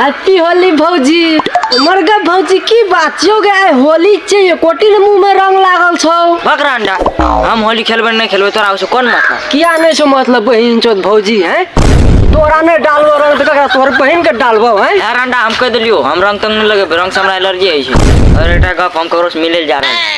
happy Holi भौजी हमर गे भौजी की बात छियौ गे आइ होली छै एकोटी ने मुंह में रंग लागल छौ बकरा अंडा हम होली खेलबै नहि खेलबै तोरा ओहिसँ कोन मतलब किया नहि छौ मतलब बहिन चोत भौजी हैं तोरा नहि डालबो रंग तऽ ककरा तोहर बहिन के डालबो हैं यार अंडा हम कहि देलियौ हम रंग तंग नहि लगेबै रंगसँ हमरा एलर्जी होइ छै आओर एकटा गप हम ककरोसँ मिलै लए जा रहल छी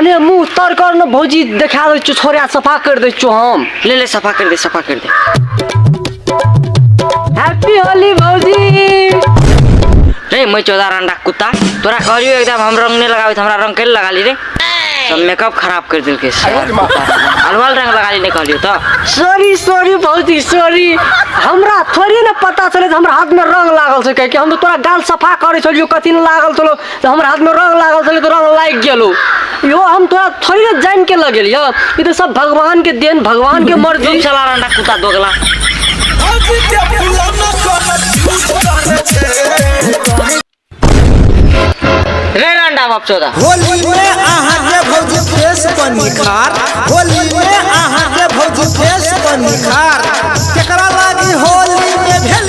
अरे मुंह तर कर न भौजी देखा दे छु छोरा सफा कर दे छु हम ले ले सफा कर दे सफा कर दे हैप्पी होली भौजी रे मैं चौदह रंडा कुत्ता तोरा कहलियो एकदम हम रंग नहीं लगावे हमरा रंग के लगा ली रे सब मेकअप खराब कर दिल के अलवाल रंग लगा ली नहीं कहलियो तो सॉरी सॉरी भौजी सॉरी हमरा थोड़ी न पता चले जे हमरा हाथ में रंग लागल छै कहे कि हम तो तोरा गाल सफा करे छलियो कथी न लागल छलो तऽ हमर हाथमे रंग लागल छलै तऽ रंग लागि गेलो इहो हम तोरा थोड़ी ने जानि के लगेल यऽ ई तऽ सब भगवान के देन भगवान के मर्जी चुप चला रंडा कुत्ता दोगला रे रंडा बाप चौदह होली में अहाँ के भौजी फेस पर निखार होली में अहाँ के भौजी फेस पर निखार केकरा लागी होली में भेल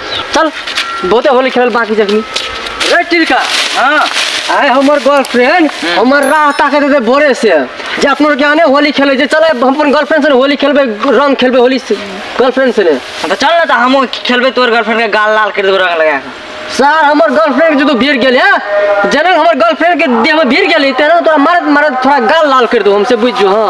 चल बहुते होली खेलल बाकी जखनी रे टिलका हां आए हमर गर्लफ्रेंड हमर राह ताके दे भोरे से जे अपनो के आने होली खेले जे चले हम अपन गर्लफ्रेंड से ने होली खेलबे रंग खेलबे होली से गर्लफ्रेंड से ने तो चल ना तो हम खेलबे तोर गर्लफ्रेंड के गाल लाल कर देबो रंग लगा के सर हमर गर्लफ्रेंड के जो भीड़ गेल है जने हमर गर्लफ्रेंड के देह में भीड़ गेल है तेना तोरा मारत मारत थोड़ा गाल लाल कर दो हमसे बुझ जो हां